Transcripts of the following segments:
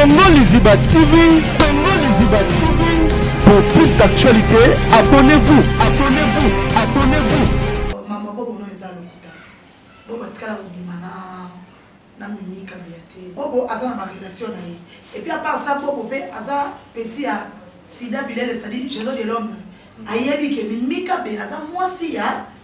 Congo Liziba TV, Congo Liziba TV. Pour plus d'actualités, abonnez-vous, abonnez-vous, abonnez-vous. Maman bobo no eza lokuta. Bobo atikala kobima na na mimi kabila te. Bobo aza na barelation na ye. Et puis à part ça bobo pe aza petit ya Sida Bilele c'est-à-dire Géraud de Londres. Ayebi ke mimi kabila aza mwasi ya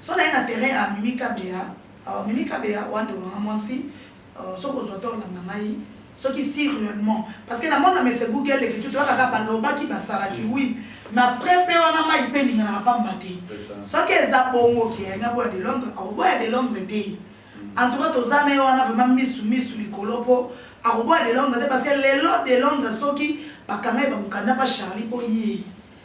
Son aye na terrain ya mimi kabeya awa mimi kabeya oa ndeko na nga mwasi euh, soki ozwa to olanda ngai soki si réellement parce que na mona mese google lekiti to kaka balobaki basalaki oui mais après pe wana mai pe ninganaka pamba te soki eza bongo ke yangi aboya de londres akoboya de londres te mm. en tout cas toza na ye wana vraiment misu misu likolo po akoboya de londres te parce que lelo de londres soki bakanga ye bamokanda pa charlie po ye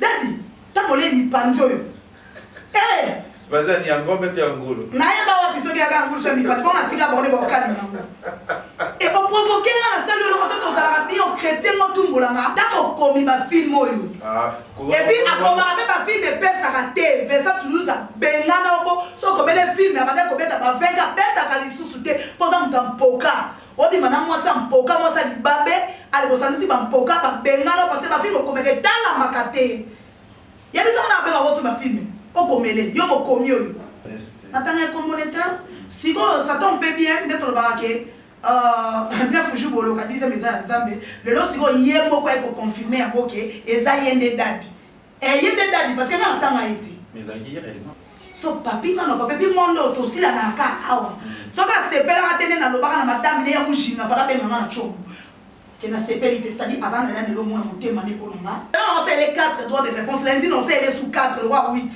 dadi ntango olie mipanzi oyo bazani ya ngombe to ya ngulu nayeba wapi soki yaka ya ngulu so ya mipanzi mpo natika bango nde baokali nango e oprovoke nga nasali yo loko to tozalaka bio chrétien motumbolanga ntango okomi bafilme oyo ah, epuis akomaka mpe bafilme epesaka te vesa toulouse abengana oko so okobele filme abandaki kobeta ba 20 abetaka lisusu te mpo oza moto ya mpoka Obima na mwasi ya mpoka, mwasi ya libabe, ale bosangisi ba mpoka, ba bengana parce que ba film okomeka etalamaka te. Yebisa nga na bengaka ozo ba film. Okomele yo mokomi oyo. Natanga ye kombo ne te. Sikoyo ça tombe mpe bien nde tolobaka ke euh, neuf jour boloka dixième eza ya nzambe lelo sikoyo ye moko aye koconfirme yango ke eza ye nde dadi Eh, ye nde dadi parce que nga natanga ye te. Mais ezalaki ye réellement. so papi nga na papi bi monde oyo tosila na aka awa soki asepelaka te nde nalobaka na madame ne ya mujinga fala benga nga na como ke nasepeli te cetadi aza na ya lelo mona motema ne mpo na nga naosele 4 droit de réponse lundi naosele su 4 lowa 8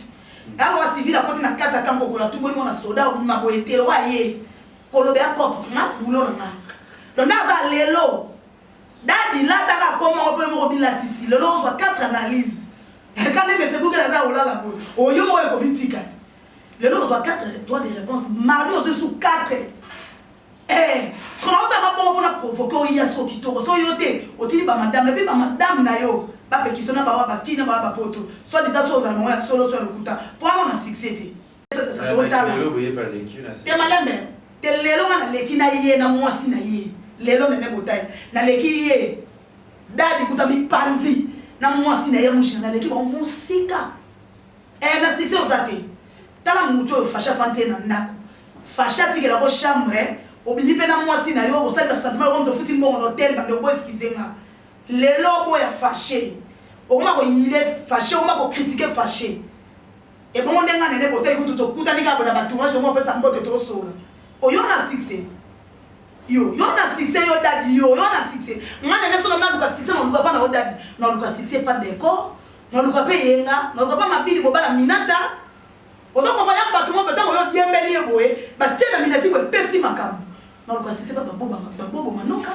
nalowa civil akoti na 4 ata nkokola tumboli mona soda obima boye te lowa ye koloba ya cope nga bulo na nga londa aza lelo Dady lata kaka kombo yango po yo moko obilatisi lelo ozwa quatre analyse ka nde mese google aza ya kolala boye oyo moko oyo kobitika te lelo ozwa quatre droit de réponse mardi ozwi su quatre eh siko na osala mabongo mpona provoke oyiya siko kitoko so yo te otili bamadame epi bamadame na yo bapekiso na bawa bakina bawa bapoto soit disant so ozala bango ya solo so ya lokuta mpo wana na succès te te malembe te lelo nga naleki na ye na mwasi na ye lelo meme botai naleki ye dadi kuta mipanzi na mwasi na ye mushina naleki bango mosika e eh, na succès oza te tala moto oyo fasha afanti ye na ndako fasha atikela ko chambre eh. obimi mpe na mwasi na yo osali basentiment yoko moto ofuti mbongo na hotel bando oko eskize nga lelo oboya fashe okoma koyimile fashe okoma kokritike fashe Ebongo nde nga na Nene Botey kutu tokutani kaka boye na ba tournage tomona opesa mbote tosolola. Oyo na succès? Yo, yo na succès yo dady yo, yo na succès? Nga na Nene soki na luka succès na luka pa na yo dady, na luka succès pa Decor, na luka pe Eyenga, na luka pa Mabidi mobala Minata. Ozo comprendre? Y'a batu moko boye tango yo diembeli ye boye ba tie na Minati boye epesi makambo. Na luka succès pa Baboba, Babobo Manoka.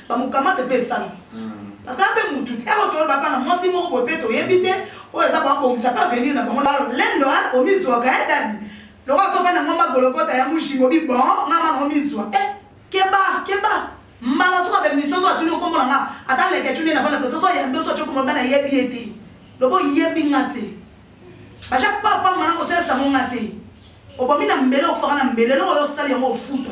bamukamate mpe esalama parce que ape mutu ti eko toyeba mpa na mwasi moko boye mpe toyebi te oyo eza koabongisa mpe avenir na bango lendo omizwaka e dadi loko azofa na ngoma gologota ya mujimo bi bon ngama na omizwa e keba keba mbala soka bemni soso atuni okombo na nga ata leke tuni na bana pe soso yambe soso tyo kombo bana yebi ye te lobo yebi nga te baja papa mana kosalisa ngo nga te obomi na mbele okufaka na mbele eloko yo osali yango ofuta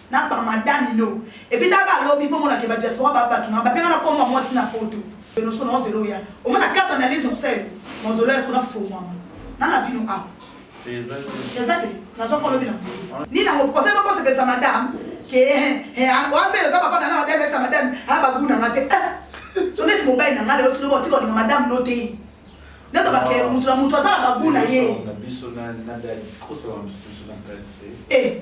na ba madame no ebitaka lobi po mona ke ba diaspora ba batu na ba penga na komba mwasi na poto de nos kono zelo ya o mona quatre analyse on sel mon zelo ya skona fo mama na na vino a ezali na zo kolobi na ni na ngo kosema ko sepesa madame ke he wa se yo ta papa na madame sa madame ha ba guna ngate so net mo bai na ngale o tsulo tiko ni madame no te nde to bake mutu na mutu asala baguna ye biso na na dadi kosa ba mutu na kati te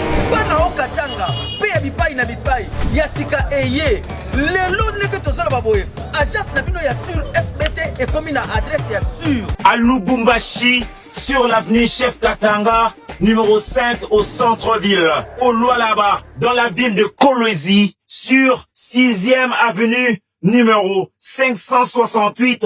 bana o katanga mpe ya bipai na bipai ya sika eye lelo ndenge tozoloba boye agence na bino ya sur fbt ekomi na adresse ya sur à lubumbashi sur l'avenue chef katanga numéro 5 au centre-ville, au Lualaba, dans la ville de Kolwezi, sur 6e avenue, numéro 568,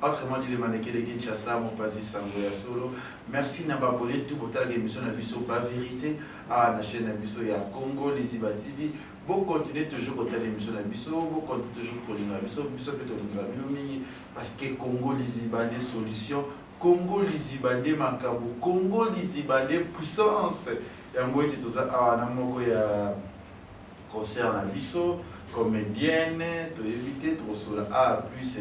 Autrement dit le maneke de Kinshasa mopazi sango ya solo merci na ba abonne tout botalaka émission na biso ba verite awa na chaîne na biso ya Congo Liziba TV bo continuer toujours kotala émission na biso bo continuer toujours kolinga biso biso mpe tolingaka bino mingi parce que Congo Liziba nde solution Congo Liziba nde makambo Congo Liziba nde puissance yango ete toza awa na moko ya concert na biso comedienne toyebi te tokosola a ah, plus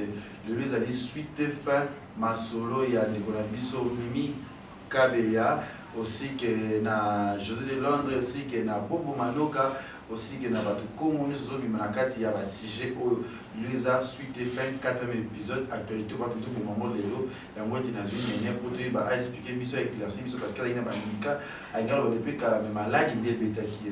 lelo ezali suite fin masolo ya ndeko na biso mimi kabeya aussi que na josé de londres aussi que na bobo manoka aussi que na bato kongo nyonso ezobima na kati ya basujet oyo lelo eza suite fin 4 épisode actualité bato toboma yango lelo yango ete nazwi nene mpo toyeba aexplike biso aeclairci biso parce que alaki na bandika alingaka loba depe kala me maladi nde ebetaki ye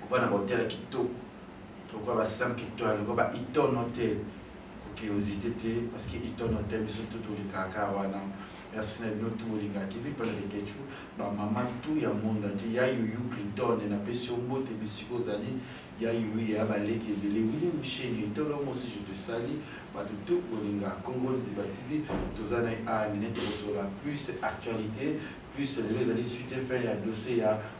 kovanda ba hotel ya kitoko lokola ba 5 étoiles lokola ba Hilton hotel curiosité te parce que Hilton hotel biso tout tolingaka kaka wana merci na bino tout bolingaka kivi mpona lekechu bamama tout ya monde entier ya yuyu clinton napesi yo mbote bisika ozali ya yuyu ya baleki ebele wili musheni etolo mosi je te sali bato tout bolingaka congo liziba tv toza na awa nene tokosola plus actualité plus lelo ezali suite fin ya dossier ya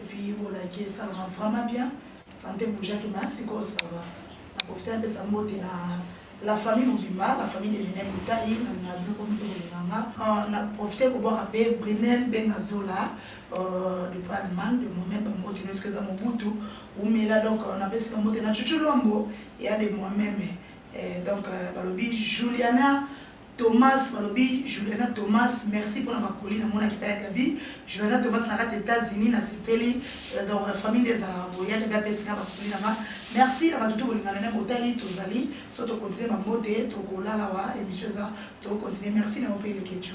Et puis bo like esalama vraiment bien. Sante boujaki ma sikoyo ça va. Na profiter napesa mbote na la famille mobimba la famille de lene motai na biloko mito kolinganga euh, na profite kobwaka mpe brinel mpe na zola euh, de pa allemagne de moi-même bambote nyonso eza mobutu umela donc euh, napesi bambote na cucu lwambo ya de moi-même donc balobi juliana Thomas balobi Juliana Thomas merci pona ba colis na monaki epai ya Gaby Juliana Thomas na kati ya Etats Unis na sepeli euh, donc euh, famille nde ezalaka boye ya Gaby apesi nga ba colis na nga merci na bato to bolingana na botali tozali so to continue ba mbote tokolala wa émission eza to continue merci na yo mpe leketio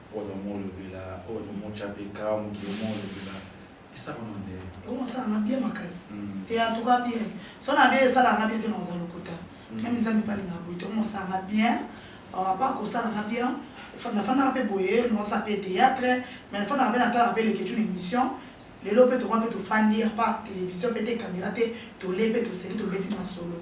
ozo mo lobela ozo mo chape ka mokili mo lobela esaka na ndele omo sa na bien makasi mm. te en tout cas bien so na bien esala na bien te na oza lokuta mm. même nzambe pali na boye omo sa na bien euh, pas ko sala na bien fanda fanda pe boye no sa pe théâtre mais fanda pe na tala pe leke tu émission lelo mpe tokomi mpe tofandi apa televizio mpe te kamera te tole mpe toseki tobeti masolo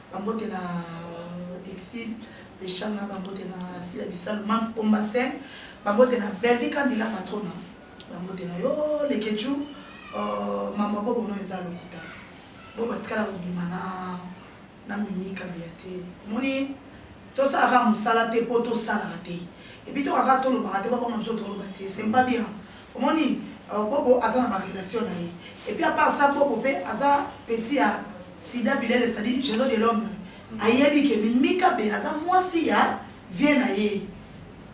Bambote na Exil Peshanga, bambote na Sila Bisalu, Mams Ombasen, bambote na Bellevue Kandila Patrona, bambote na yo Lekechou, uh, mama bobo no eza lokuta. Bobo atikala kobima na na mimi kabeya te. Omoni Tosala kaka musala te po to salaka te et puis toka kaka tolobaka te ba boma biso toloba te c'est pas bien omoni euh, bobo aza na ba relation na ye et puis à part ça bobo pe aza petit ya sida bilele c'est à dire jero de l'homme ayebi ke mimika be aza mwasi ya vie na ye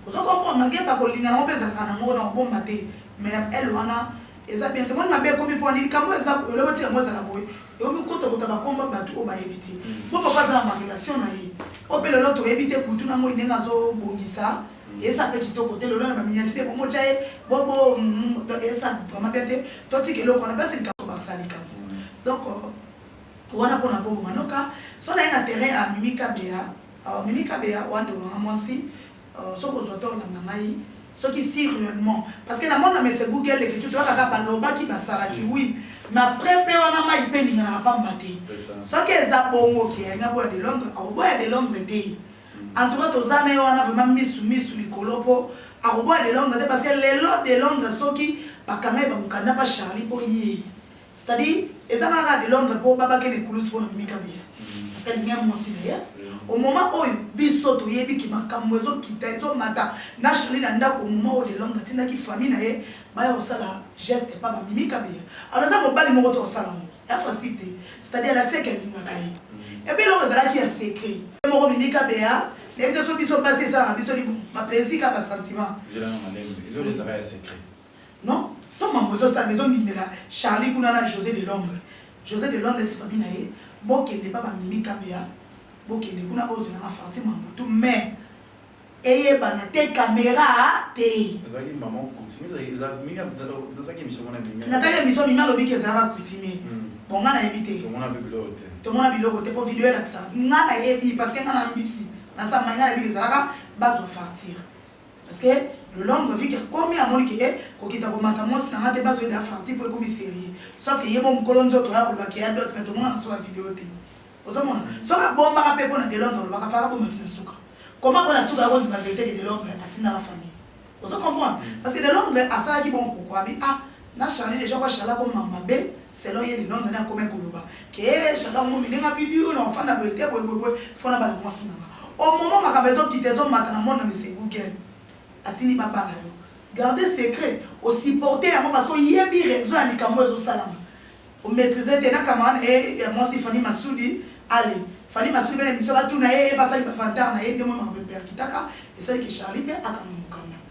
ozo comprendre magemba kolingana ngo pe ezalaka na ngo na kobomba te mais elle wana eza bien tomoni mabe ekomi mpo nini kambo eza elobo ti yango ezala boye ekomi kotokota bakombo bato oyo bayebi te mpo mm. papa aza na marelation na ye mpo mpe lelo toyebi te kutu na moi ndenge azobongisa mm. eza mpe kitoko te lelo na baminyati mpe bomotya ye bobo eza vraiment bien te totika eloko wana place likambo basalika mm. donc euh, wana mpona bobo manoka so na ye na terrain ya mimi kabeya mimi kabeya wande wanga mwasi Oh soki ozua tort landa ngai soki si reellement parce que na mona mese Google leki tu toyaka kaka balobaki basalaki oui mais après pe wana mai pe elinganaka pamba te soki eza bongo ke alinga boya de londre akoboya de londre te en tout cas toza na ye wana vraiment misu misu likolo mpo akoboya de londre te parce que lelo de londre soki bakanga ye bamokanda mpa charlie mpo ye C'est à dire eza kaka de Londres po babake les coulous pona mimi kabila parce qu'elle mia mwasi na ye au moment oyo biso toyebi ki makambo ezo kita ezo mata na Charlie na ndako au moment oyo de Londres atindaki famille na ye baya kosala geste epa ba mimi kabila alors eza mobali moko to kosala ngo ya facile te c'est à dire alakisa ke alingaka ye epe eloko ezalaki ya secret moko mimi kabila nayebi te so biso basi esalaka biso libo ma plaisir kaka sentiment Non to mambo ezo salama ezo ndimela Charly kuna na Jose de Londres Jose de Londres si famille na ye bo kende pa ba Mimi Kabeya bo kende kuna bo zela ma Fanti mambo tout mais eyebana te camera te. Ezalaki maman coutumier eza mimi nazaki emission mona mimi nataki emission mimi alobi ke ezalaka coutumier bon nga nayebi te tomona pe biloko te tomona biloko te po video elakisa nga nayebi parce que nga na mbisi na samba nga nayebi ke ezalaka bazwa fartire Parce que le lendemain vu que akomi amoni que eh, kokita komata mwasi na nga te bazo yeba Fanti po ekomi serie. Sauf que yebo mukolo nzoto ya koloba que ya dot mais tomona na soka video te. Ozo mona? Soki abombaka pe pona de Londres alobaka faka bomba ti na suka. Comment pona suka ako ndima verite que de Londres atindaka famille. Ozo comprendre? Parce que de Londres asalaki bon pourquoi abi ah Na Charly dejà kwa Charly ako mama mabe selon ye ni Londres na komaki koloba ke Charly ako mimi ninga bidio na ofanda boye te boye boye boye fona bana mwasi nanga au moment makambo ezo kita ezo mata na monde na monsieur Google atindi ba bala yo garde secret o supporte yango parce que oyebi raison ya likambo ezo salama o maîtrise te na camarade na ye ya mwasi Fanny Masudi ale Fanny Masudi bene mission batuna ye ye basali ba vantar na ye nde mwa makambo eperkitaka esali ke Charly pe akanga mukanda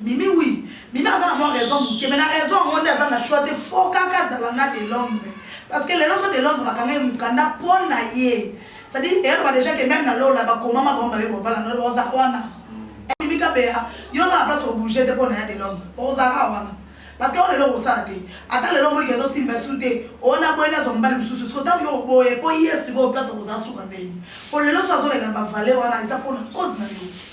Mimi oui, Mimi aza na mwa raison muke mais na raison yango nde aza na choix te faut kaka azala na de Londres parce que lelo so de Londres bakanga ye mukanda mpo na ye c'est-à-dire eyaloba déjà que même na lola bakomama bango baye kobala na oza wana Mimi Kabeya yo oza na place kobouge te mpo na ya de Londres ozaka wana parce que oyo lelo okosala te ata lelo omoni kezo simba su te ona boye nazwa mobali mosusu siko ntango yo oboye mpo ye sikoyo place okozala suka ndeni mpo lelo so azoleka na bavale wana eza mpona cause na yo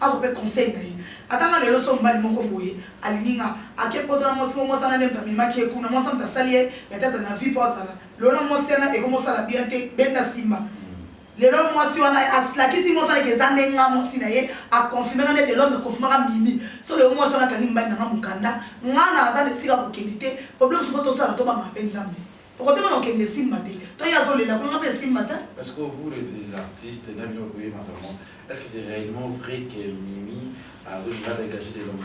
Azo pe conseil na ye. Ata nga lelo soki mobali moko boye alingi nga, ake poto na mwasi moko, mwasi wana nde moto amemaki ye kuna, mwasi wana moto asali ye metata na vie po azala lelo na mwasi wana eko mosala bien te, benda simba. Lelo mwasi wana aslakisi mwasi wana ke eza nde nga mwasi na ye, a confirme nga nde de l'homme a confirmaka Mimi. Soki lelo mwasi wana akangi mobali na nga mukanda, nga naza na esika ya kokende te, problème soki faut tosala tobanga pe Nzambe. Okotema na okende esimba te. To ye azolela kuna nga pe esimba te. Est-ce que vous les artistes na bino boyema vraiment est-ce que c'est réellement vrai que Mimi azolinga dégage de l'homme?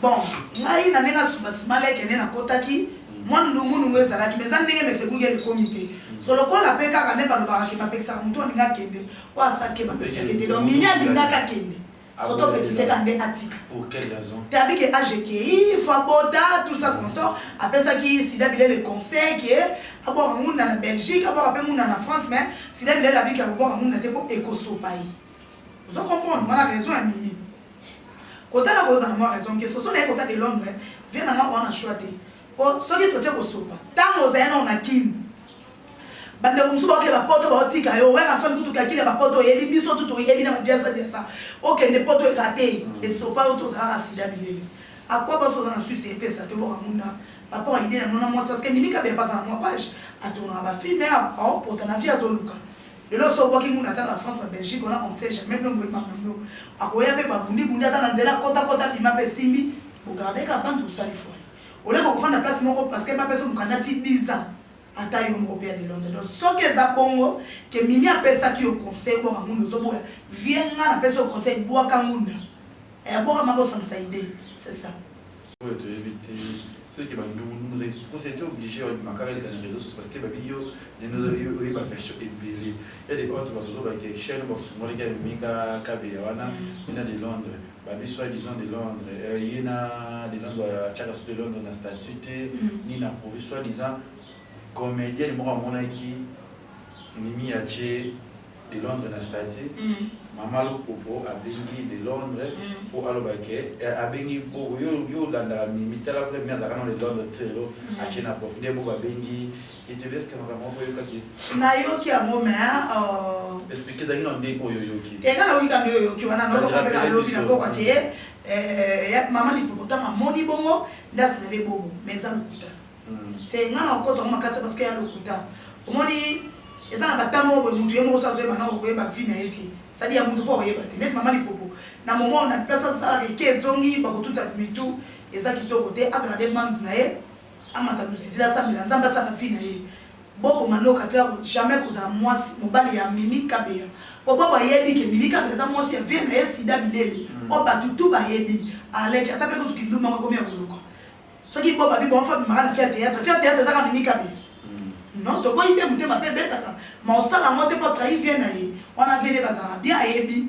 Bon, ngai na ndenge asuba simala ekende na kotaki mm. mwa nungu nungu ezalaki mais eza ndenge mese bugi elikomi te. Mm. So lokola pe kaka nde balobaka ke bapekisaka moto alinga kende oyo asakeba pesaka te donc mimi alingaka kende soki opekise ka nde atika tabi ke age ekei fo abota tout ça consort apesaki sida bilele conseil ke abwaka ngunda na belgique abwaka mpe ngunda na france mais sida bilele abiki akobwaka ngunda te mpo ekosopa ye ozo comprendre mwana raison ya mimi kotala kozala mwa raison ke soso naye kota de londres vie nanga owana choix te Po soki totie kosopa tango ozali nao na kin bandeko mosusu baokende ba poto baotika yo werrason kutu kakili ya ba poto oyebi biso tu toyebi na ba diasa diasa okende poto erate esopa yo tozalaka sida bilele akwa basola na suisse epesa te boka munda papa wa ide na nona mwasi aske mimi kabe apasa na mwa page atongaka ba filme aopota na vie azoluka lelo so obwaki nguna ata na france na belgique wana on sait jamais bino boyebaka na bino akoya mpe babundi bundi ata na nzela kota kota bima mpe simbi bogardeka banzi kosali foye Au lieu kokofanda place moko parce que bapesa mukanda ti 10 ans ata yo moko pia de Londres donc soki eza bongo que mimi apesaki yo conseil bwaka ngunda ozoboya vie nga napesa yo conseil bwaka ngunda eh bwaka mako sangisa idee c'est ça oyo toyebi te ceux qui bandungu ndungu zai parce que obligé wa makaka les réseaux sociaux parce que ba bio ne nous oyi ba version ebele ya des autres ba zo ba ke chaîne ba fumoli ka mika kabe ya wana ina de Londres Babi soit disant de Londres, euh, ye na de Londres euh, atiaka su de Londres na statut te mm. ni na provi soit disant comédienne moko amonaki mimi atie de Londres na statut mm. mama lopopo abengi de Londres mpo mm. aloba ke eh, abengi mpo yo olandaka mimi tala mpe mimi azalaka na de Londres tselo atie na profi nde bo babengi nayoki yango me eka nayoki kambi oyoki wana naokokombela lobi na boko ake mama lipopotama amoni bongo nde asenele bobo me eza lokuta te ngai na kokota yango makasi parceke ya lokuta omoni eza na batama oyo boye motu ye moko so azoyeba na okoyeba vi na ye te sadi ya motu mpo akoyeba te neti mama lipopo na momo na place asalaka eke ezongi bakotuta mitu eza kitoko te agarde mans na ye Amata luzizi asambela nzambe asala vie na ye. Bobo manoka atika ko jamais kozala mwasi mobali ya mimi kabeya po bobo ayebi ke mimi kabeya aza mwasi ya vie na ye sida bilele mm. oyo batu tu bayebi aleki ata pe kutu kindumba makomi ya koluka soki bobo abi bonfa bimaka na fia théâtre fia théâtre ezaka mimi kabeya mm. non toboyi te motema pe ebetaka ma osala yango te po atrahi vie na ye wana vie nde bazalaka bien ayebi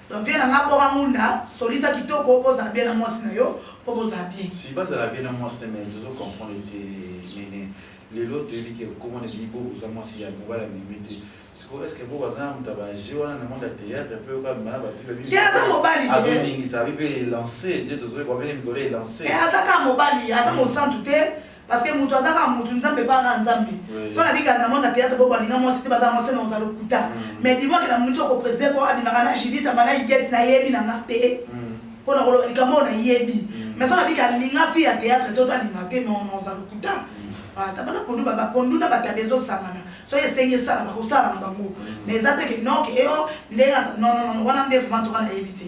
Donc vieux na nga bora munda solisa kitoko oza bien na mwasi na yo po bozala bien. Si bazala bien na mwasi te mais tozo comprendre te nene lelo toyebi ke comment ebi bo oza mwasi ya mobala mimi te siko est-ce que bo baza na mutaba je wana na monde ya théâtre pe oka bana ba fille bi aza mobali te azo ningi sa bi pe lancer te tozo ba bene mikolo e lancer eh aza ka mobali aza mosantu te Parce que mutu aza kaka mutu, Nzambe epa kaka Nzambe. Soki na bika na moni na theatre bo balinga mwasi te baza mwasi na oza lokuta. Mm. Mais dis-moi que na mutu oko preside ko abimaka na Judith amana Igette na yebi na nga te. Mm. Mpo na koloba likambo na yebi. Mm. Mais soki na bika linga fille ya theatre to ta linga te non non oza lokuta. Mm. Ata bana pondu ba pondu na batabe ezo sangana. soki esengi esala bakosala na bango mais eza te ke noke eo ndenge non non wana nde vraimen toka nayebi te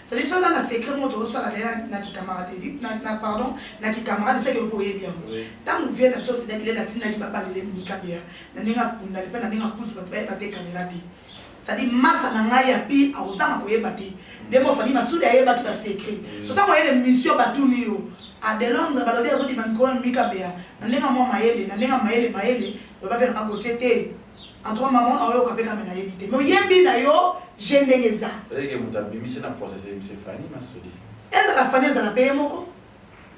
C'est-à-dire ça dans la secret moi to sala là na ki camarade dit na, na pardon na ki camarade c'est que ko yebi yango. Tango vient na so c'est là qu'il latina ki papa le mika bia. Na ninga kunda le na ninga kusu ba ba te caméra dit. C'est-à-dire masa na ngai ya pi a osama ko yeba te. Nde mo fani masudi ayeba ki ba secret. So tango yele mission ba tuni yo. A de Londres ba lobi azo di ba mikolo mika bia. Na ninga mo mayele na ninga mayele mayele. Ba ba vient na ko tete. En tout cas maman na oyo kape kamela yebi te. Mais oyebi na yo je ndenge eza. Eleke moto abimisi na process ye monsieur Fanny Masudi. Ezala Fanny ezala pe ye moko.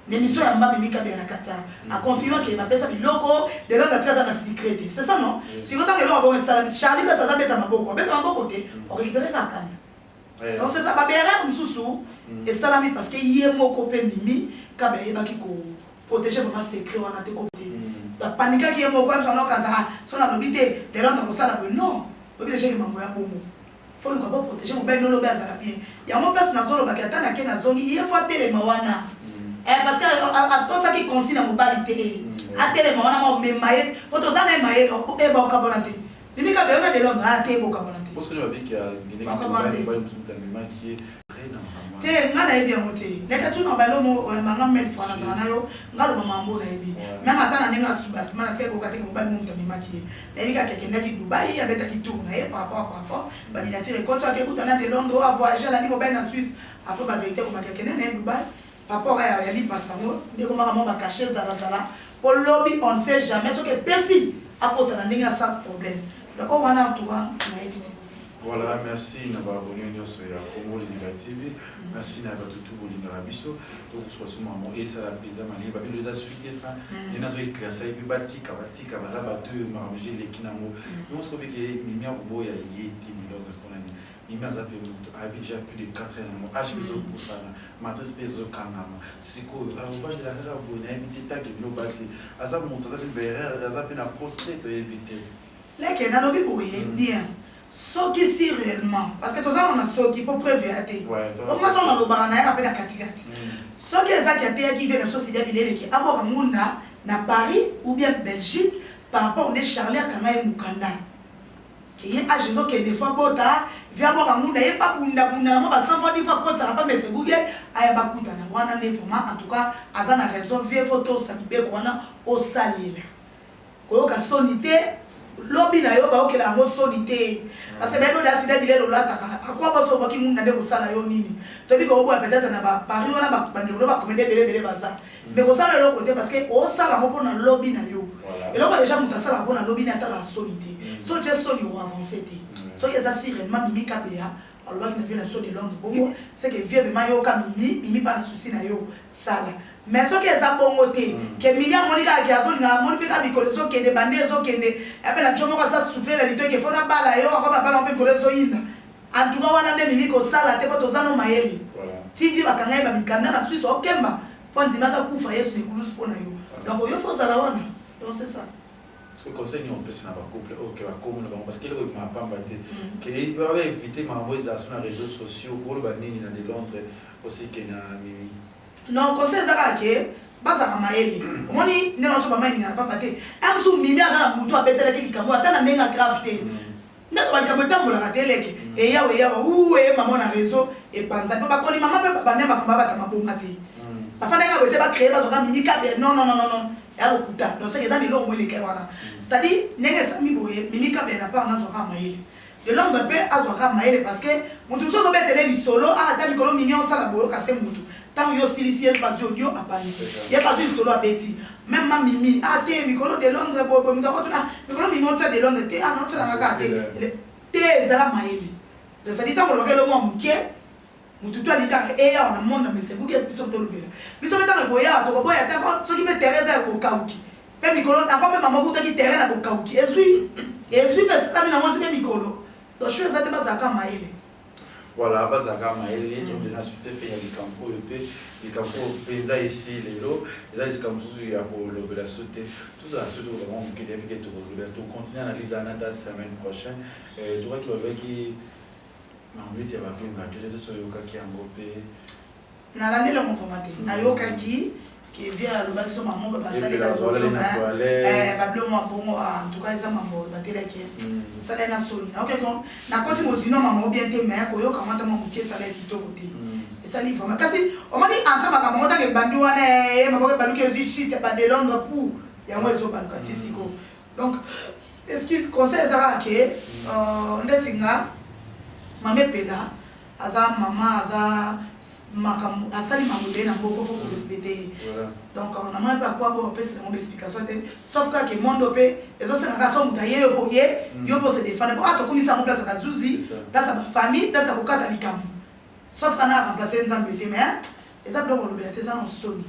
Na émission ya Mbami Mika Bia na Kata, a confirma que ba pesa biloko, de là tika ta na secret. C'est ça non? Si ko tanga eloko bo sala Charlie ba sala beta maboko, beta maboko te, o récupérer ka kanya. Eh. Donc c'est ça ba bera mususu esalami parce que ye moko pe mimi kabe yebaki ko proteger vraiment secret wana te comme te ba panikaki ye moko amsa loka za so na lobi te lelo ndo kosala boye non lobi déjà ke mambo ya bomo faut luka bo proteger mobali no lobi azala bien yango place na zolo baki ata na ke na zongi ye faut atelema wana eh parce que atosaki consigne na mobali te atelema wana ma mema ye po toza na ye mayele e ba okabola te Mimi kabelo na lelo nga te bokamona te. Boso ba biki ya ngene ba ba musuta mema ki te nga nayebi yango te leka tuna balo mo oyambanga meme fois nazala na yo nga loba mambo nayebi meme ata na ndenge asuba nsima na tika koyoka te mobali momutu amemaki ye nayebi kaka akendaki dubai abetaki tour na ye par rapport par rapport baminatire ekoto akekuta na de londres oyo avoyage alandi mobali na suisse apres baverité komaki akende na ye dubai Papa oyo ya lipasa yango nde ekomaka mwa ba cachet zalazala po lobi on ne sait jamais soki epesi akota na ndenge asa problème donc oyo wana en tout cas nayebi te. Voilà, merci na ba abonné nyonso ya Congo Liziba TV. Merci na bato tout bolingaka biso. Tokosuka so mamo esala mpenza malie babi eza suite te fin. Nde nazo éclaircir ye mpe batika batika baza bato oyo makambo eleki nango. Nyonso kobike mimi akoboya ye te lilordre mpo na nini. Mimi aza pe mutu ayebi deja plus de 4 heures mo age ezo pusana matrice pe ezo kangama sikoyo akobandela kaka boye nayebi te tanke bino basi aza mutu aza pe berere aza pe na fausse te toyebi te leke nalobi boye bien soki si réellement parce que tozanga na soki mpo preuve ya te omata nalobaka na yaka mpe na katikati soki ezaki ateyaki ve na biso sida bileleki aboka ngunda na paris ou bien belgique par rapport nde charler akanga ye mokanda Kiye age ezo kende fo abota via boka ngunda ye pa bunda bunda na mo ba sanfo di fo akotisa na pa mese guge aya ba kuta na wana nde vraiment en tout cas aza na raison vie fo to sa bibeko wana osalela koyoka soni te lobi na yo baokela yango soni te parce que bayebi oda sida bilelo olataka akwa basi obwaki ngunda nde kosala yo nini toyebi kokobola peut-être na bapari wana bandeko no bakomede ebele ebele baza mais kosala eloko te parce que osala yango mpo na lobi na yo eloko deja moto asalaka mpo na lobi na atalaka soni te mm. so tye soni oavance te mm. soki eza si réellement mimi kabeya alobaki na vie na biso de londre bongo seke vie vraimen yoka mimi mimi mpa na souci na yo sala mais soki eza bongo te mm. ke mimi amoni kaka ke azolinga amoni mpe kaka mikolo ezokende bande ezokende epe na jo moko asa souffle na lito ke fo nabala yo akoma bala mpe mikolo ezoyinda En tout cas wana nde elingi kosala te po toza no mayele ti vie bakanga ye ba mikanda na suisse okemba po andimaki akufa yesu na ekulusu po na yo donc yo faut ozala wana donc c'est ça soki conseil nini opesi na bacouple oyo ke bakomi na bango parce que eloko ekoma pamba te ke ba éviter makambo ezala so na réseaux sociaux koloba nini na de londres aussi ke na mimi non conseil eza kaka ke bazalaka mayele omoni nde na oso bama elingana pamba te un mosusu mimi aza na motu abetelaki likambo ata na ndenge ya grave te Ndako ba likambo etambolaka te leke eyawa eyawa uuee eh, maman na reseau epanzani ba koni maman pe babanda makambo abata maboma te hmm. bafandaki abo ete ba créer bazwaka mimi kabe non non non non ya lokuta donc seke eza na eloko mo eleka wana hmm. c'est à dire ndenge esami boye mimi kabe na part nazwaka mayele de l'homme mpe azwaka mayele parce que moto mosusu ozobetele lisolo ah, ata mikolo mini osala boyoka se moto Tango yo osilisi ye bazui audio apanzi. Ye bazui lisolo abeti. Meme ma mimi ah te mikolo de Londres boye boye moto akotuna mikolo mimi otia de Londres te ah na otia nanga kaka te. Te zala mayele. Donc ça dit tango olobaka eloko ya moke moto tu alingi kaka eya wana monde na mesa ebuki biso tolobela. Biso mpe tango ekoya tokoboya ata ko soki mpe terrain eza ya bokauki. Mpe mikolo ako mpe mama okutaki terrain na bokauki ezui ezui mpe esalami nango ezui mpe mikolo. Donc choix eza te bazala kaka mayele. Voilà, bazalaka mayele tondi na sute fe ya likambo oyo mpe likambo oyo mpenza esi lelo eza likambo mosusu ya kolobela so te tozala so tokokanga moke te mpeke tokolobela tocontinue analyse wana ata semaine prochaine eh, tokaki balobaki na mbiti ya bavinga tozo toyokaki yango mpe Na landeli yango vraiment te. Na yokaki que bien alobaki so maman ba basali ba toilette na toilette. Eh ba blo mwa bongo en tout cas eza mambo ba telaki. Sala na soni. Na yokaki donc na koti mozino maman bien te mais ko yoka mata mwa moke sala kitoko te. esali vraiment kasi omoni entre makambo yango ntango ebandi wana ye eh, maboko ebaluki ozwi shit ya bade londre pou yango ezobaluka ti siko donc excuse conseil eza kaka ke euh, ndeti nga mame pela aza maman aza makambo asali makambo ebele na mboko fo korespecte ye donc euh, namona mpe akwa mpo bapesi yango baexplication te sauf kaka kemondo mpe ezosenga kaka so moto aye yo mpo ye mm. yo mpo se defendre mpo a ah, tokumisa yango place ya bazuzi place ya bafamille place ya kokata likambo sauf kana aremplace nzambe te mais eza biloko olobela te eza na nsoni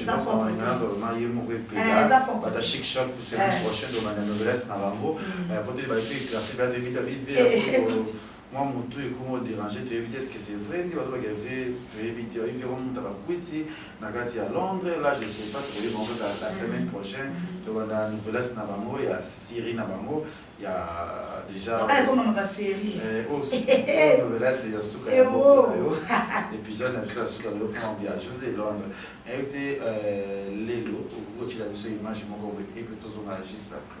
eza propre mwa mutu ekoma oderange toyebi te eske c'est vrai nde bazolaka vie toyebi te oyebi yango moto abakwiti na kati ya londres là je sais pas tokoyeba yango kaka la semaine prochaine tobanda nouvelas na bango ya syrie na bango ya déjà nouvelas ya suka ya épisode na biso ya suka lelo plan bia juste de londres nayebi te lelo okoki kotyela biso image moko epe tozonga juste après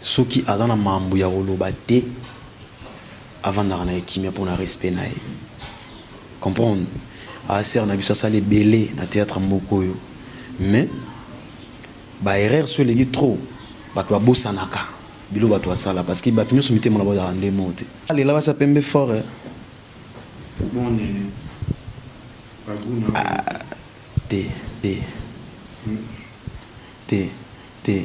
Soki aza na mambu ya koloba te avandaka naye kimia pona respect naye comprendre aa sœur na biso asala ebele na theatre mboka oyo mais ba erreur soki eleki trop batu babosanaka biloko batu asala parce que batu nionso mitema na bango ezalaka nde moko te. Alela basi ya pembe fort eh. Bon nene ba gout na yo eza te. Te te te te.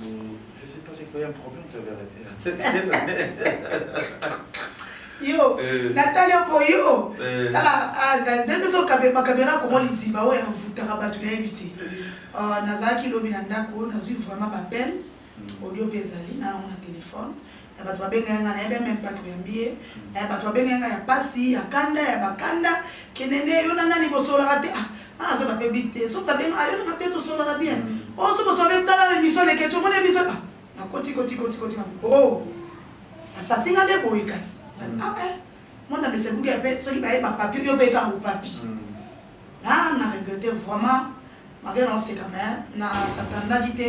Je sais pas c'est quoi un problème tu avais yo eh. natali oko yo eh. tala ah, ndenge so bakamera koma liziba oyo avutaka bato nayebi te ah, nazalaki lobi na ndako nazwi vraiment bapele hmm. audio mpe ezali nanango na telefone ya bato babengaka nga nayebi ya meme pas koyambi ye ya bato babengaka nga ya pasi ya kanda ya bakanda kenene yo na nani bosolaka te ah ah azoba mpe bit te soki babenga ah, yo nanga te tosolaka bien mm. o oh, soki osobe tala na emission leketi omoni emission ah nakoti koti koti koti na o oh, asasi nga nde boye kasi mm. ah eh mwana mesebuki mpe soki baye bapapie yo mpe ekango papi mm. na na regrete vraiment malgré naoseka me na satandaki te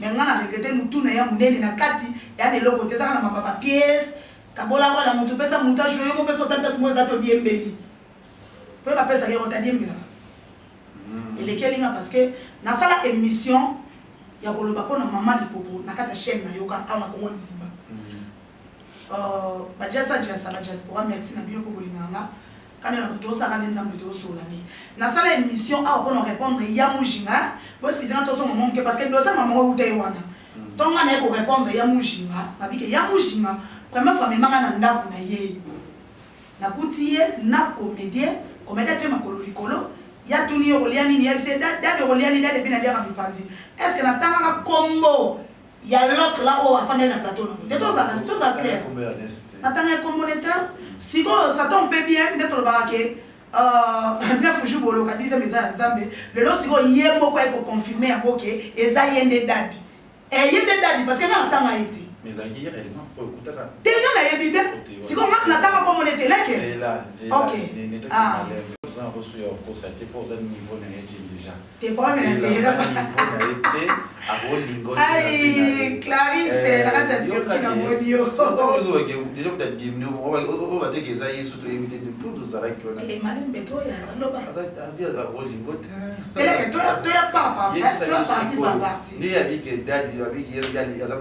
Mais nga na regrette mutu na ya munene na kati ya na eloko te ezaka na mapa papiers kabola wala mutu pesa mutu a jouer yo mopesa otali pasi mo eza to diembeli pe ba pesa yero ta diembela hmm. elekeli nga parce que na sala émission ya koloba pona maman lipopo na kati ya chaîne na yoka awa na Congo liziba hmm. euh, ba jasa jasa ba diaspora merci na bino ko bolinga nga Kanda na butu osaka nde nzambe te osola nde na sala emission awa pona repondre ya mujinga bo skize nga tozonga mwa moke parce que dosa mama ngo euta ye wana to nga naye ko repondre ya mujinga nabike ya mujinga première fois mema nga na ndako na ye nakuti ye na comedien comedien atie makolo likolo ya tuni yo kolia nini ya bise dade okolia nini dade epi naliaka mipanzi est ce que natangaka kombo ya l'autre là oyo afandaki na plateau na te tozala tozala clair natanga ya communautaire sikoyo satan mpe bien nde tolobaka ke euh, neuf jour boloka dixième eza ya nzambe lelo sikoyo ye moko aye koconfirme yango ke eza ye nde dadi eh, ye nde dadi parce que nga natanga ye te te nga nayebi te sikoyo nga natanga komone te leke ok ah.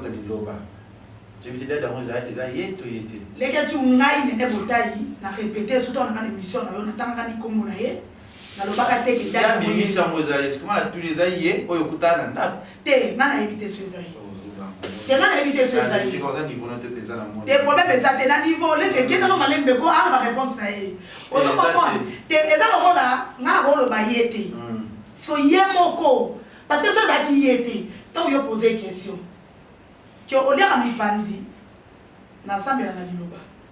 liloba jebitidada yango eza ye to ye te leketi ngai nene botai na repete soki tolanga na émission na yo natangaka likombo na ye nalobaka te ke Ya bimisi yango eza ye sikoma na tuli eza ye oyo okuta na ndako te nga nayebi te so eza ye te nga nayebi te so eza ye sika oza niveau no te mpenza na moni te problème eza te na niveau leke kenda no malembe ko ana ba réponse na ye ozo comprendre te eza lokola nga nakoloba ye te siko ye moko parce que so ezalaki ye te ntango yo pose question ke oliaka mipanzi nasambela na liloba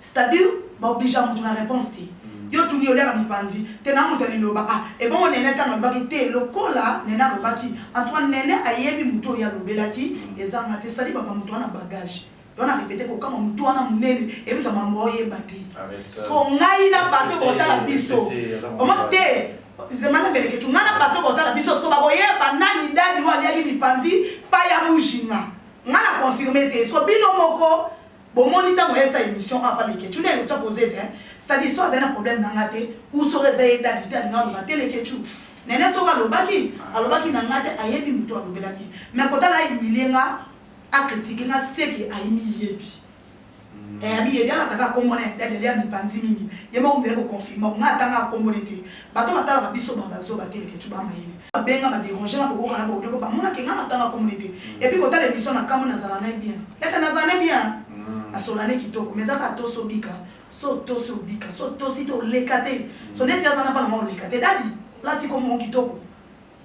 C'est à dire ba obligea mutu na reponse te yo otuni oliaka mipanzi te na mutu ya liloba ah ebongo nene tango alobaki te lokola nene alobaki en tout cas nene ayebi mutu oyo ye alobelaki ezanga te c'est à dire ba ba mutu wana bagage donc na repete kokamua mutu wana munene ebisa mambu oyeba te sikoyo ngai na bato botala biso omo te zema na melekecu ngai na bato botala biso sikoyo bakoyeba nani dadi oyo aliaki mipanzi pa ya mujinga ngai na confirme te sikoyo bino moko Bomoni tango aya sa emission awa pa leketshou nde leketshou ako zete hein c'est à dire soki azali na problème na nga te ou soki eza ye dady te alingi aloba te leketshou nene soki alobaki alobaki na nga te ayebi mutu alobelaki mais kotala a humilie nga a critique nga seke ayimiyebi eh, amiyebi alataka kombo na ya dadi ali amipanzi mingi ye moko mizali koconfirma ko nga atanga akombo ne te Bato batalaka biso ba bazoba te leketshou ba mayele. Babenga ba deranger na kokoka na ba audio po bamona ke nga natanga kombo ne te et puis kotala emission na kamwe nazala ne bien leke nazala ne bien hein nasola ne kitoko mais eza kaka tosi obika so otosi obika so otosi te oleka te so neti aza na bana ma oleka te dady olati kombo moko kitoko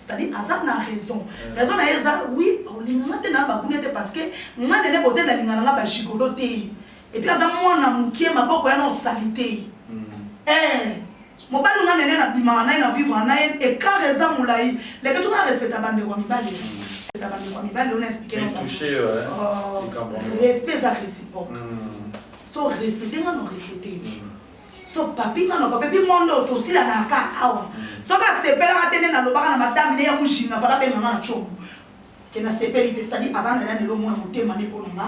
c'est-à-dire aza na raison mm. raison na ye eza oui olinganga te na bakunia te parce que nga nene bote nalingana nga bagigolo te epuis aza mwana mokie maboko yana osali te mm. eh, mobali nga nene nabimaka na ye na vivre na ye ekart eza molai leke tuka respecta bandeko ya mibali respecta bandeko ya mibali ona explike respect eza réciproque so respecte nga no respecte so papi nga na papi mondo tosila na ka awa soki asepelaka te nde nalobaka na madame ne ya mujinga fala benga nga na congo ke nasepeli te cetadi aza na nani elomona motema ne mpo na nga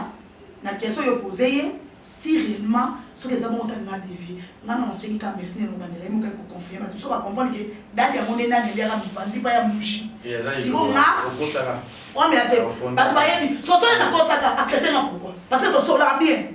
na question yo pose ye si réellement soki eza bongo tani nadevie nga na nasengi ka mesi ne nobandela ye moka ekoconfirme bato so bacomprendre ke dadi yango nde nani eliaka mipanzi mpa ya muji siko nga omela te bato bayebi sosole nakosaka akretien nga pourkoi parce que tosolaka bien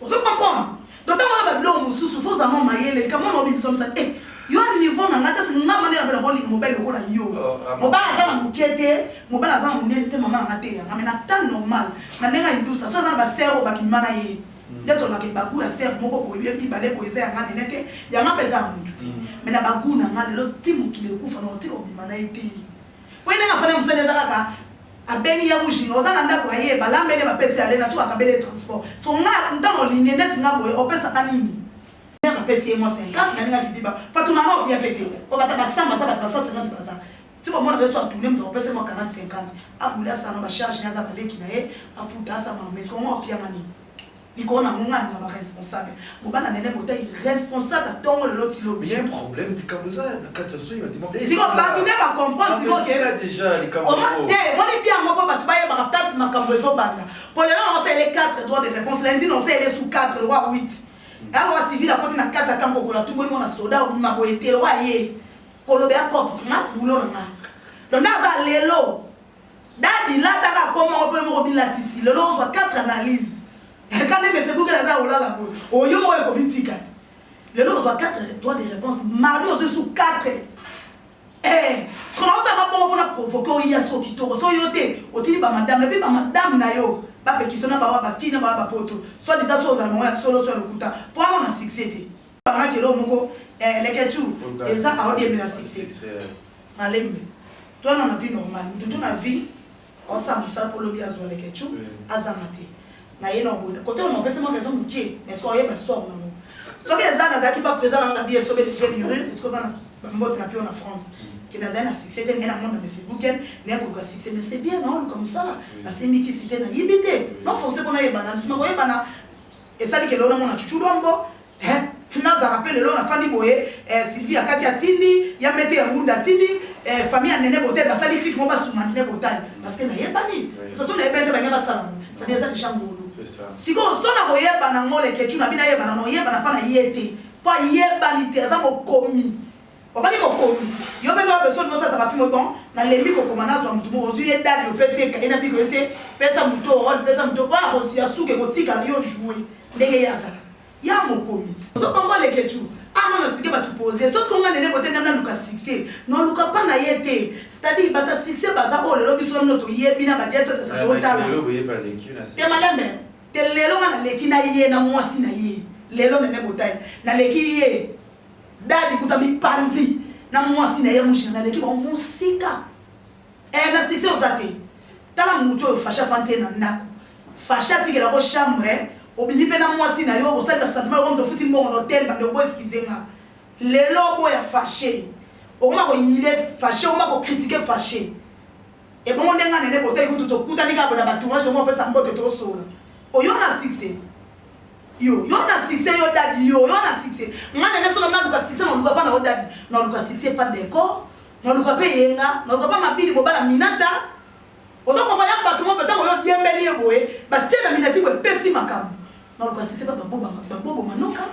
ozo comprendre donc ntango wana babiloko mosusu fo ozama mayele likambo wana obimisomisa te eh, yo niveau na ngai kasi ngai mane nabela kolinga mobali lokola yo oh, mobali aza na moke te mobali aza na monene te mama nanga te yanga mai na temps normal na ndenge aindusa so aza na baser oyo bakima na ye mm. nde tolobaka bagu ya ser moko boye ye mibale boye eza yanga nene te yanga mpe eza ya motu te mm. mai na bagu na ngai lelo ti mokili ekufa na otika obima na ye te mpo ye ndenge afanda mosali eza kaka Abengi ya mujinga oza na ndako ya ye balamba ene bapesi ale na suka akabeli ye transport so nga ntano olingi neti nga boye opesaka nini mère apesi ye mwa 50 nalingaki diba patuna na obia pete po bata basamba za bato basa 50 baza ti bomona beso atune moto akopesa mwa 40 50 abula sana bacharge naza baleki na ye afuta asama mais kongo opianga nini likolo na ngani ya ba responsable mobana nene bota irresponsable atongo lelo ti lobi bien problème likambo eza na kati ya zoyi batima siko bato nde ba comprendre siko ke déjà likambo oma te moni bien yango mpo bato bayebaka place makambo ezobanda mpo lelo na osele 4 droit de réponse lundi na osele su 4 lowa 8 yango wa civil akoti na kati ya kampo kola tumboli mona soda obima boye te lowa ye koloba ya cop nga bulo na nga donc nde aza lelo Dady lata ka kombo yango pe moko bilatisi lelo ozwa quatre analyse kande mese kukela aza olala boye oyo moko ekobitika te lelo ozwa 4 droit de réponse mardi ozwi su 4 eh, soki naosala bongo mpona provoke oya soko kitoko so yo te otindi bamadame epuis bamadame na yo bapekisi na bawa baki na bawa bapoto so diza so ozala bango ya solo so ya lokuta mpo wana na succès te bangaki eloko moko eh, leketu eza aodiembela succès malembe Toi na vie normal mutu tout na vie osa musala po lobi azwa leketchou azanga te na ye na obonde kote ona opesa mwa raison mukie mais soki oyeba sort na soki eza nazalaki pa président nanga na biye sobe levie murure esiko oza na bambote na pio na france ke nazali na succès te naye na monde na mesi google naye koluka succès mais c'est bien naoluka mosala nasimbi kisi te nayibi te non forcé mpo nayebana nsima koyebana esali ke lelo namona chuchu lombo Hein? nazaka pe lelo nafandi boye eh, sylvie akati atindi ya mete ya ngunda atindi eh, famille ya nene botai basali fiki mo basuma nene botai parce que nayebani soso nayebani te banya basala ngo sadi eza deja ngulu sikoyo so na koyebana ngo lekecu na bino ayebana na oyebana mpa na ye te mpo ayebani te aza mokomi Obali mokomi yo mpe lobe soni osa zaka fimo bon na lembi kokoma na zwa mutu ozwi ye dali opesi ye kaye na biko ese pesa muto role pesa muto oyo akosi ya suka ekotika na yo joue ndenge ye azala ya mokomi ozo comprendre que tu ah non expliquer batu poser sauf que nga nene bote nga na luka succès non luka pa na ye te c'est-à-dire bata succès baza oyo lelo biso na mino toyebi na badiasi oyo tasa totala te malembe te lelo nga naleki na ye na mwasi na ye lelo nene botai naleki ye Dadi kuta mipanzi na mwasi na ye mujina na leki bango mosika eh, na succès oza te tala moto oyo fashi afandi ye na ndako fashi atikela ko chambre obimi mpe na mwasi na yo osali basentiment yoko moto ofuti mbongo na hotel bandeko bo eskize nga lelo oboya fashe okoma koyinile fashe okoma kokritike fashe ebongo ndenge nene boteki kutu tokutani kaka bona batournage tomopesa mbote tosola oyo na succès Yo yo na succès yo dadi yo yo na succès nga na naso na luka succès na luka pa na yo dadi na luka succès pa décor na luka pe yenga na luka pa mabili bobala minata ozo comprendre ya bato moko ntango yo diembeli ye boye batie na minati boye epesi makambo na luka succès pa babobo manoka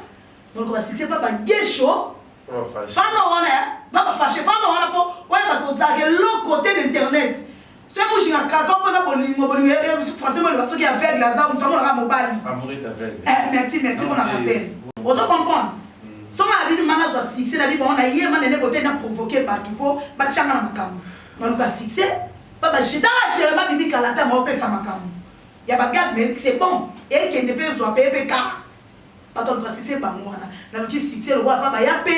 na luka ba succès pa bagesho fana wana ya ba bafashe fana wana po oyeba kozala eloko te na internet Soki mujinga kaka mpo aza bolingo bolingo ya eh, eh, français moloba soki aveugle aza moto amonaka mobali. Eh, merci merci mpo na rappel. Ozo comprendre? Mm. Soki na bino manga azwa succès na bibango na ye manene bote na provoquer bato mpo batyanga na makambo. Naluka succès mpo bajetaka jere babibi kala ata maopesa makambo ya bagade mais c'est bon ekende mpe ezwa mpe mpe kaka bato baluka succès bango wana naluki succès lokola mpa baya mpe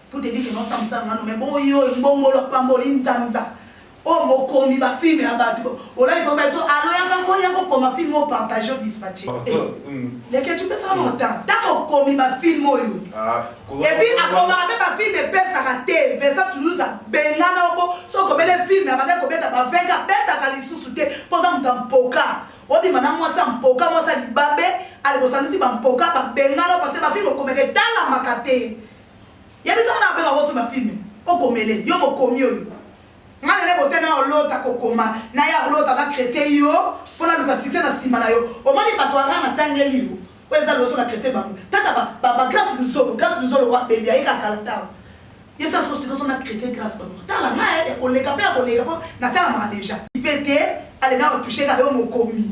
Pour te dire que mwasi amusala mano mais bongo yo mbongolo apamboli nzanza oyo oh, mokomi ba filme ya bato olali mpo bazo aloyaka ko ya kokoma filme oyo partage dispatche ah, eh, hmm. leke tupesaka hmm. mota ta mokomi ba filme oyo ah, epuis akomaka mpe bafilme epesaka te vesa toulouse abengana oko soki obele filme abandaki kobeta baveka abetaka lisusu te mpo oza moto ya mpoka obima na mwasi ya mpoka mwasi ya libabe alekosangisi bampoka babengana parce bafilme okomeka etalamaka te Yebisa nga nanga pe bako soba film oko mele yo mokomi oyo nga na lebo te nao lota ko koma na ya lota na crete yo po na luka succès na sima na yo omoni batu ya rana tangeli yo oyo eza loso na crete bango tata ba ba ba grace luzolo grace luzolo wa baby aye ka kala tawa yebisa soko sikoso na crete grace bango tala nga ya koleka pe ya koleka po na tala maka deja pe te ale nao touche ka yo mokomi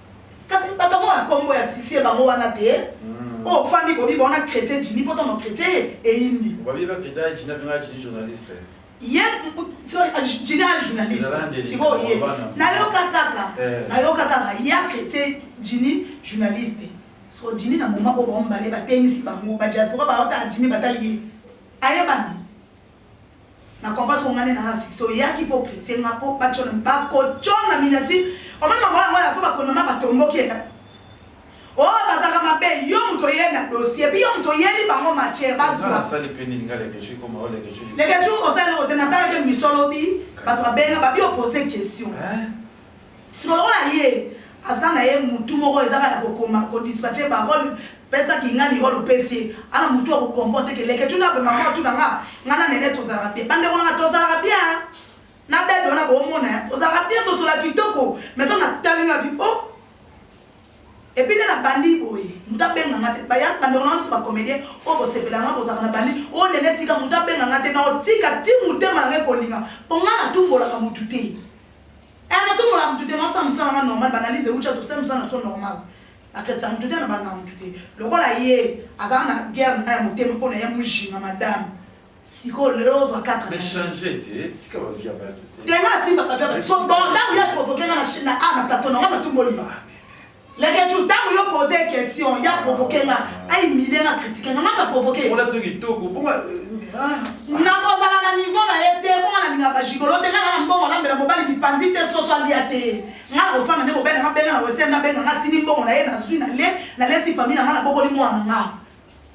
Kasi bato yango ya kombo ya succès bango wana te. Hmm. Oh fandi bobi bona chrétien Jimmy poto no chrétien eyindi. Bobi ba chrétien ya Jimmy abengaka Jimmy journaliste. Ye Jimmy ali journaliste. Siko ye. Nayoka kaka. Eh. Nayoka kaka ya chrétien Jimmy journaliste. Siko Jimmy na moma oyo baombale batengisi bango ba diaspora baotala Jimmy batali ye. Ayebani. na comprends ce ngani na six so yaki po critique nga po ba chona ba ko chona minati o meme mwa mwa aso ba kono ma ba tomboki ya o oh, bazaka mabe yo moto ye na dossier puis yo moto yeli bango matière bazwa sali pe nini nga leke chu koma o leke chu leke chu o sali o tena tala ke misolo bi bato abenga ba bi o poser question hein Sikoyo lokola ye aza na ye mutu moko ezaka ya kokoma ko dispatcher ba role pesa kingani role opesi ye ana mutu ya ko comprendre que leketshou nde aboma ngo atuna nga nga na nene tozalaka bien bandeko nanga tozalaka bien hein na bebe wana bomona hein tozalaka bien tosolola kitoko mais tango na tali nga bi oh epuis nde na bandi boye mutu abenga nga te baya bandeko nanga nyonso ba comedien oyo bosepela nga bozalaka na bandi o oh, nene tika mutu abenga nga te na otika ti mutema nanga ekolinga po nga natumbolaka mutu te Eh na tumbola mutu te nasa musala nga normal ba analyse euti ya tosala musala na so normal na kretisa mutu te na banga mutu te lokola ye azala na guerre na ya motema pona ya mujinga madame sikoyo lelo ozwa 4 mais changer te tika ba vie ya batu te tema asimba ba vie ya batu so bon ntango ya provoquer nga na chine na a na plateau na nga na tumboli Leketshou tango yo pose question ya provoquer nga a humilier nga critiquer nga nga na provoquer Ona tso kitoko bonga nakozala na niveau na ye te bonga na linga ba gigolo te nga na mbongo lambela mobali bipanzi te soso alia te nga na kofana nde mobali nga benga na western na benga nga tini mbongo na ye na zui na le na lesi famille na nga na bokoli mwana nga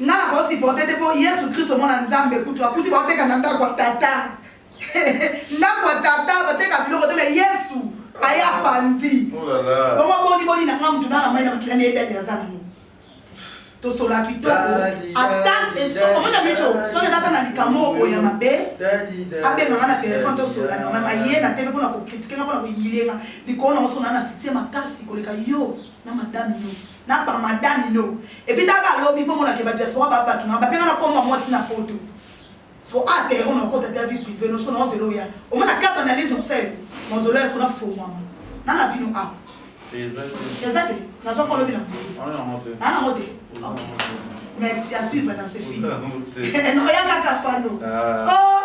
Nga na ko supporter te po Yesu Christo mwana Nzambe kutu akuti ba teka na ndako ya tata. ndako ya tata ba teka biloko te mais Yesu aye apanzi. Oh la la. Bongo boni boni na nga mutu na na mai na makila ne edani aza nango. Tosola kitoko. Ata eso omona micho soki eza ata na likambo oyo ya mabe abenga nga na telefone tosola na mama ye na tele pona ko critiquer nga pona ko humilier nga likolo na ngo sona na sitie makasi koleka yo na madame yo. na ba madame no ebitaka lobi po mona ke ba diaspora ba batu na ba penga na komba mwasi na poto so a terre on okota ta vie privée no so na ozelo ya o mona carte analyse on sel mo zelo ya so na fo mama na na vino a ezate na zo kolobi na na na mote merci à suivre dans ce film non ya kaka pano oh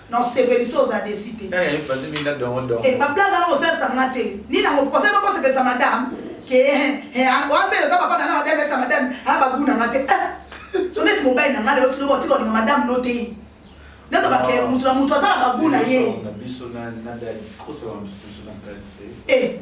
Non sepeli so oza desi te. Eh, eh bazi minda dongo dongo. Eh, ba blague na kosalisa nga te. Ni na ngoko osali ko sepesa madame. Ke eh, eh, ah, wa se yo ba fana na madame sa madame, ha ah, ba guna nga te. Eh. So net mobile na nga le otulo botiko ni madame no te. Neto ba ke mutu na mutu azala ba guna ye. Na biso na na dali ko so na biso na kati. Eh.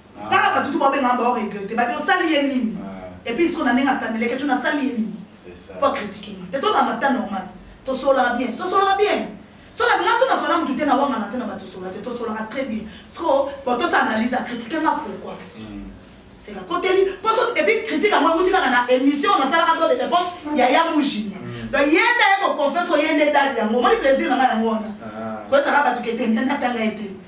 Kaka batutu ba benga ba regretter ba osali ye nini? Et puis siko na ndenge akaneleke tu na sali ye nini? Kwa critiquer nga. Te to na mata normal. To sola bien. To sola bien. So na nga so na sola mutu te na wanga na te na ba to sola te. To sola très bien. Siko bon to sa analyse a critiquer nga pourquoi? C'est la koteli. Pour ça et puis critique à moi vous dites na émission na sala ka de réponse ya ya mujima. Donc yenda yako confesse yende dadi yango. Moi plaisir na nga yango. Ko sala ba tukete na tanga ete.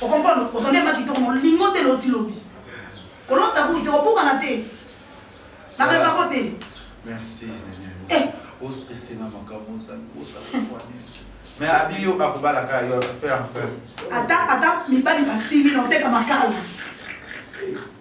O comprendre? Ozwa nde maki toko molingo te loti lobi. Kolota bouille te kobukana te. Na reba ko te. Merci Nene. Eh. O stressé na makambo za kosa kwa nini? Mais abi yo akobala ka yo faire en faire. Ata ata mibali basili na oteka makala.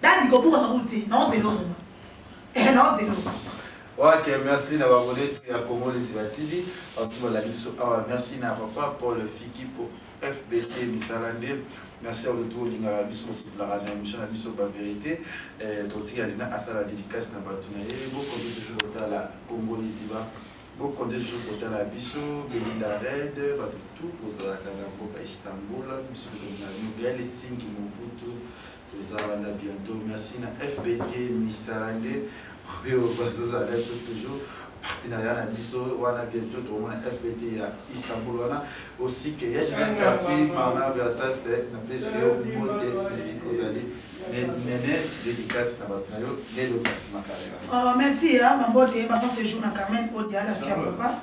Dadi kobuka kabulu te, na ozelo vraiment. Eh na ozelo. Ok, merci na babone tu ya Congo Liziba TV. Batu balali biso awa. Merci na papa Paul Fiki po FBT misala nde. Merci à tout lingaka biso kosepelaka na émission na biso ba vérité. Eh totika lina asala dédicace na batu na ye. Boko toujours kotala Congo Liziba. Boko toujours kotala biso Belinda Red, batu tout kozalaka na mboka Istanbul, biso tozalaka na New Delhi, Sinki Mobutu. Toza wana bientôt. Merci na FBT misala nde oyo bazozala biso toujours partenariat na biso wana bientôt tokomona FBT ya Istanbul wana aussi que ya Gisèle Kati Marna Versace eh, na pesi yo mbote bisika ozali nene dédicace na bato na yo lelo kasi makalera. Oh, merci, hein, ma beauté, ma bonne séjour, ma Carmen, Odia, la fière papa.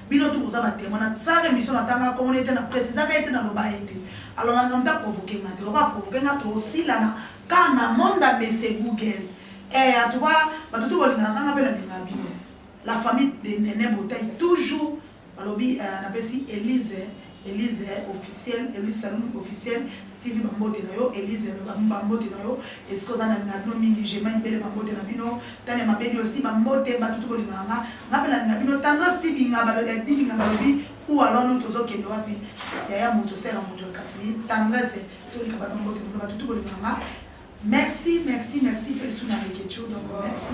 Bino tout boza ba temoin na salaka emission na tanga komona ete na precisaka ete na loba ete alors na ngamta provoquer nga te lokola provoquer nga to silana car na monde a baisse Google eh en tout cas bato tout bolingaka nga pe na linga bino la famille de Nene Botayi toujours balobi euh, napesi Elise Elise officiel Elise Salum officiel TV ba mbote na yo Elise ba mbote na yo esika oza na linga bino mingi Gemma Ebele ba mbote na bino Tania Mabedi aussi ba mbote bato tuko linga nga nga pe na linga bino Tandros Tibinga ba lobi Tibinga ba lobi ou alors nous tozo kende wapi yaya moto sera moto katini Tandres tolika ba mbote na bino bato tuko linga nga merci merci merci pe suna leketcho donc merci